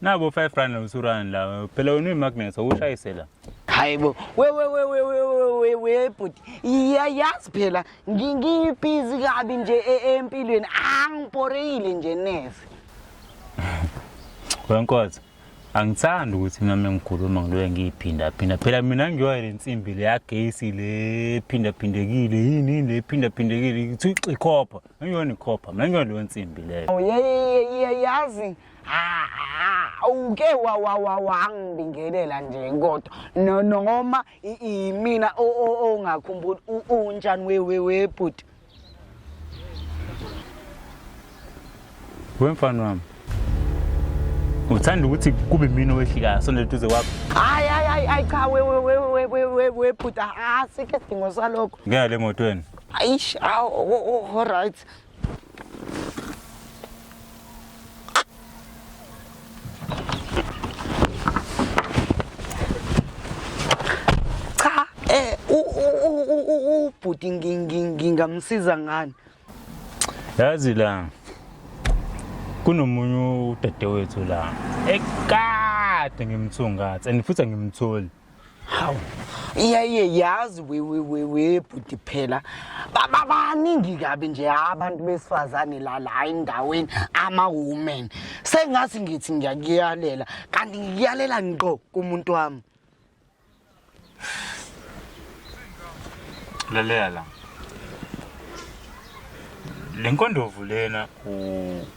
Nabo 5 rand no 2 rand la. Phela wena uyimagnets awushayisela. Hayibo. We we we we we we we bhuti. Iyayazi phela ngingibhizi kabi nje e-, empilweni. Angiporeyile nje neze. Wenkozo. Angithandi ukuthi nami ngikhuluma ngiloye ngiyiphinda phinda. Phela mina ngiyoya lensimbi le yagesi le phinda phindekile yini le phinda phindekile. Ngithuxa ikhopha. Ngiyona ikhopha, ngiyona leyo nsimbi leyo. Oh, yazi awuke wangibingelela nje kodwa noma imina ongakhumbuli unjani wewewebhuti wemfana wami uthanda ukuthi kube mina owehlikayo sondela duze kwakho hayi hayi hayi cha webhuti asike sidingo salokho ngeke le motweni Aish, aw, oh, oh, all right. Cha, eh u u u- u u- ubhuti ngi- ngi- ngingamsiza ngani? yazi la kunomunye udadewethu la ekade ngimthungatha and futhi angimtholi hawu iyaye yazi webhuti phela babaningi kabi nje abantu besifazane la la endaweni ama-woman sengathi ngithi ngiyakuyalela kanti ngikuyalela ngqo kumuntu wami lalela la le nkondovu lena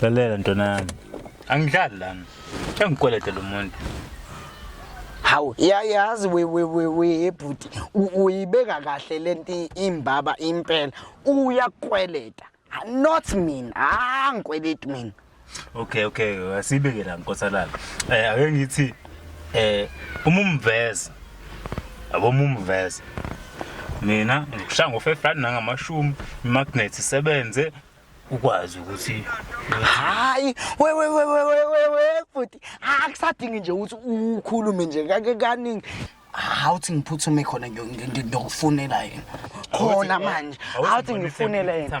lalela ntwana yami angidlali lana engikwelede lo muntu hawu yayazi webhuti uyibeka kahle le nto imbaba impela uyakweleta not mina ah ngikweleti mina okay okay asibeke la nkosalala um ake ngithi um uma umveza yabo mumveze mina ngikushaya ngofefrani nangamashumi imagnethi isebenze ukwazi ukuthi hayi wewewewewewe futhi akusadingi nje ukuthi ukhulume nje kake kaningi awuthi ngiphuthume khona ngiyokufunela yena khona manje awuthi ngifunele yena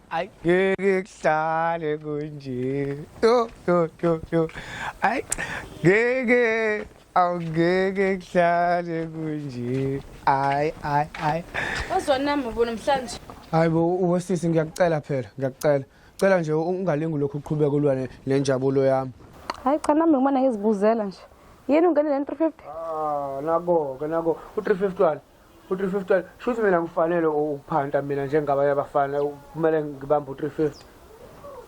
Ay ngeke kuhlale kunje. Yo yo yo yo. Ay ngeke awungeke kuhlale kunje. Ay ay ay. Wazwani nami ubo namhlanje? Hayibo ubosisi ngiyakucela phela ngiyakucela. Cela nje ungalingi lokhu uqhubeka ulwa ne- nenjabulo yami. Hayi cha nami ngimane ngizibuzela nje. Yini ungene le 350? Ah nako ke nako u351 u-350 shuthi mina ngifanele ukuphanta mina njengabanye abafana kumele ngibambe u-350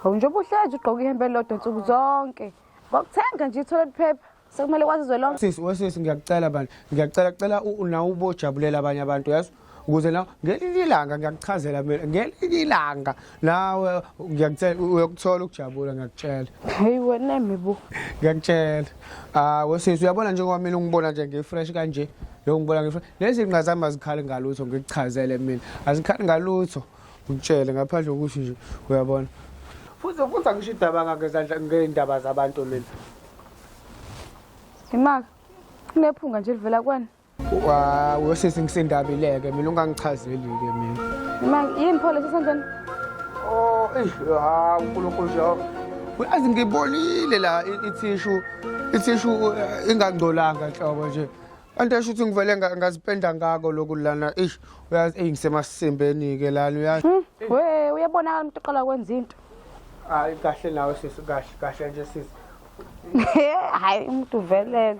hawu njengoba uhlezi ugqoka ihembe elilodwa nsuku zonke ngokuthenga nje ithole liphepha sekumele kwazi izwe lonke sisi wesisi ngiyakucela bani ngiyakucela cela nawe ubojabulela abanye abantu yazi ukuze nawe ngelinye ilanga ngiyakuchazela mina ngelinye ilanga nawe ngiyakutshela uyokuthola ukujabula ngiyakutshela heyi wena mibu ngiyakutshela ah wesisi uyabona njengoba mina ungibona nje ngifresh kanje lo ngibona ngifresh lezi nqa zami azikhali ngalutho ngikuchazele mina azikhali ngalutho ngikutshele ngaphandle kokuthi nje uyabona futhi futhi angisho idaba ngezandla ngeindaba zabantu mina imaka kunephunga nje livela kwani Wow, wesisi ngisendabileke mina ungangichazeli-ke mina. Noma yini pho lesi sandleni? Oh, eish, ha uNkulunkulu Jehova. Uyazi ngibonile la i- ithishu ithishu eh, ingangcolanga nhlobo nje. Kanti esho ukuthi ngivele nga- ngazipenda ngako lokhu lana. Eish, uyazi eyi ngisemasimbeni ke lana uyazi. Hmm, we uyabonakala umuntu oqala kwenza into. Hayi kahle nawe sisi kahle kahle nje sisi. Hayi umuntu uvelele.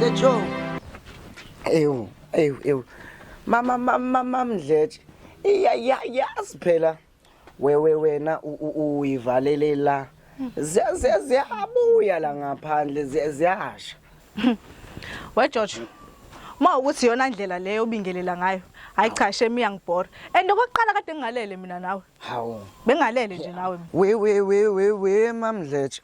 Mdletsho. Ewu, ewu, ewu. Mama mama mama Mdletshe. Iya ya yasiphela. wewe wena uyivalelela ziyabuya la ngaphandle ziyasha we George ma ukuthi yona ndlela leyo ubingelela ngayo hayi cha shame iyangibhora and okokuqala kade ngingalele mina nawe hawu bengalele nje nawe we we we we we mamdletshe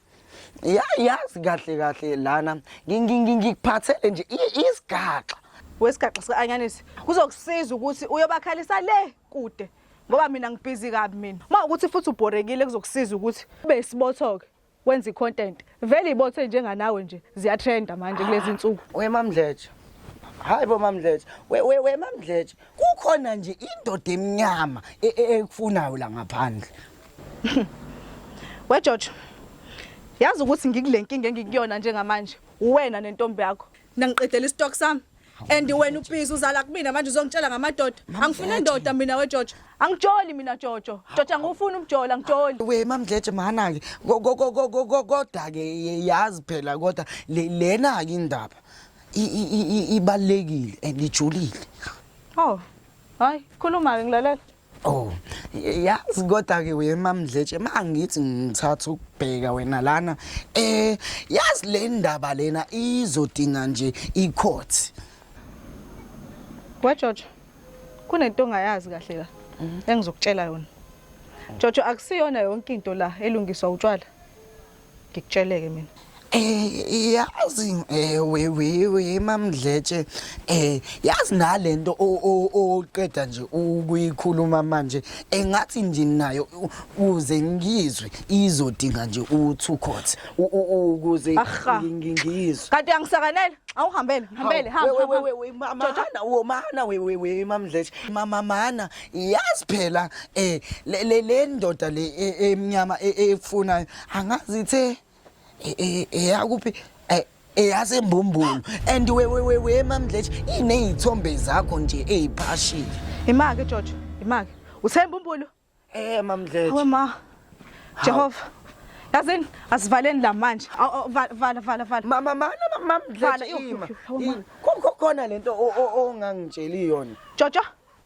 ya yazi kahle kahle lana ngikuphathele nje isigaxa wesigaxa sika anyanisi kuzokusiza ukuthi uyobakhalisa le kude ngoba mina ngibhizi kabi mina uma ukuthi futhi ubhorekile kuzokusiza ukuthi ube isibotho-ke wenza i-content vele ibothe njenganawe nje ziyatrenda manje kulezi nsuku wemamdletshe hayi bo mamdletshe wemamdletshe kukhona nje indoda emnyama e, e, ekufunayo la ngaphandle wejojo yazi ukuthi ngikule nkinga engikuyona njengamanje uwena nentombi yakho nangiqedela istock sami and wena ubiza uzala kumina manje uzongitshela ngamadoda angifune ndoda mina wejojo angijoli mina jojo jojo angifuni ukujola ngijoli we mamdleje mana ke kodwa ke yazi phela kodwa lena ke indaba ibalekile and ijulile oh hayi khuluma ke ngilalela Oh, yazi kodwa ke wema mdletshe mangithi ngithatha ukubheka wena lana eh yazi le ndaba lena izodinga nje icourt. Wejojo kunento ongayazi kahle la engizokutshela yona. Jojo akusiyona yonke into la elungiswa utshwala. ngikutsheleke mina Eh yazi eh we we we mamdletshe eh yazi nalento oqeda nje ukuyikhuluma manje engathi nje nayo uze ngizwe izodinga nje u two court ukuze ngingizwe kanti angisakanele awuhambele hambele hamba hamba we we we mana we we we mamdletshe mama mana yazi phela eh le le- le ndoda le e- emnyama e- e- efunayo angazi ithe e- e- eyakuphi eh, eyasembumbulu and we we we we mamdletshe inezithombe zakho nje eziphashile Imake Jojo, imake. Uthemba umbulo? eh mamdletshe Hawe ma. Jehova. Yazini asivaleni la manje. Aw, aw, Vala vala vala vala. mama mana Vala, mamdletshe yuk, ima yuk, yuk, hawu, ma. I- ko- ko- khona lento o- o- ongangitsheli yona Jojo,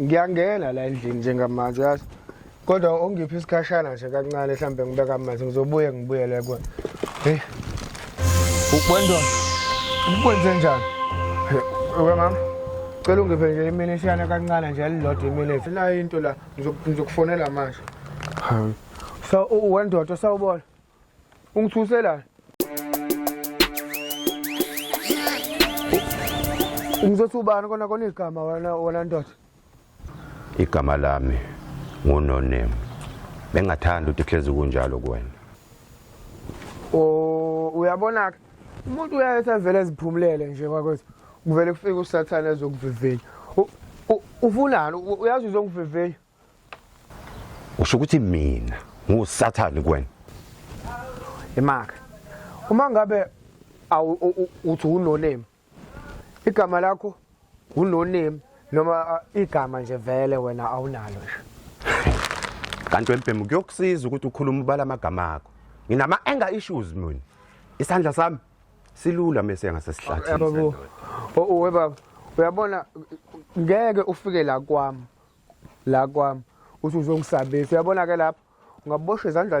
ngiyangena la endlini njengamanje yazi kodwa ongiphi isikhashana nje kancane mhlawumbe ngibeka amanzi ngizobuye ngibuyele kuwe heyi ukwendwa ukwenze njani uke mama cela ungiphe nje imini isiyana kancane nje elilodwa imini ethi nayo into la ngizokufonela manje so uwendoda sawubona ungithuse la ungizothi ubani kona kona igama wena wena ndoda igama lami ngunonemu bengathanda ukuthi kuhlezi kunjalo kuwena o uyabona-ke umuntu uyayethi avele eziphumulele nje kwakwethu kuvele kufike usathane ezokuvivinya ufunani uyazi uzongivivenya usho ukuthi mina ngusathane kuwena imaka uma ngabe uthi unoname igama lakho unoname noma igama nje vele wena awunalo nje kanti wembhemu kuyokusiza ukuthi ukhulume ubala amagama akho nginama anger issues mina isandla sami silula mese ngasesihlathini baba uyabona ngeke ufike la kwami la kwami uthi uzongisabisa uyabona ke lapho ungabosha izandla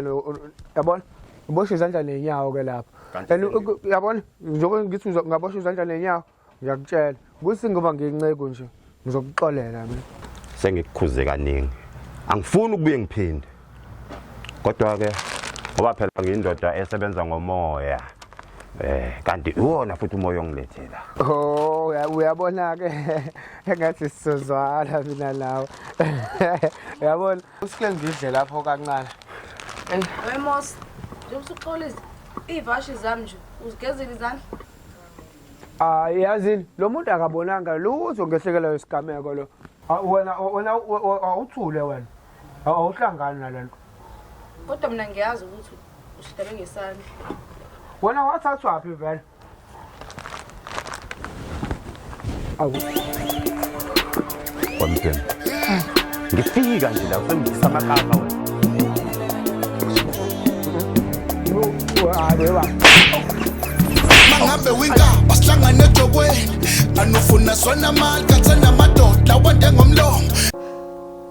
yabona ubosha izandla nenyawo ke lapho and yabona njengoba ngithi ungabosha izandla nenyawo ngiyakutshela kuthi ngoba nginceku nje ngizokuxolela mina sengikukhuze kaningi angifuni ukubuye ngiphinde Kodwa-ke ngoba phela ngiyindoda esebenza ngomoya eh kanti iwona futhi umoya ongilethela oh uyabona ke engathi sizozwala mina nawe uyabona usike ngidle lapho kancane wemos njengoba usuxola ivashi zami nje uzigezile izandla Ah yazini lo muntu akabonanga lutho ngehlekelwa isigameko lo. Ah, wena wena awuthule wena. awuhlangani nale nto kodwa mina ngiyazi ukuthi ushidele ngesandla wena wathathwaphi vele awu wamtshela ngifika nje la usengisa amakapa wena mangabe winka basihlangane edokweni anofuna sona mali kathena amadoda wande ngomlomo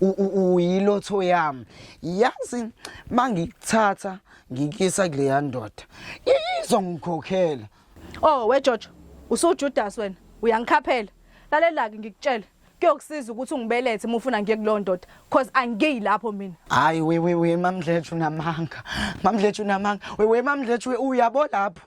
uyilotho yami yazi mangikuthatha ngikisa kuleya ndoda izongikhokhela oh we George usujudas wena uyangikhaphela lalelake ngikutshela kuyokusiza ukuthi ungibelethe uma ufuna ngiye kulowo ndoda cause angiyi lapho mina hayi we we we mamdletshe unamanga mamdletshe unamanga we we mamdletshe uyabo lapho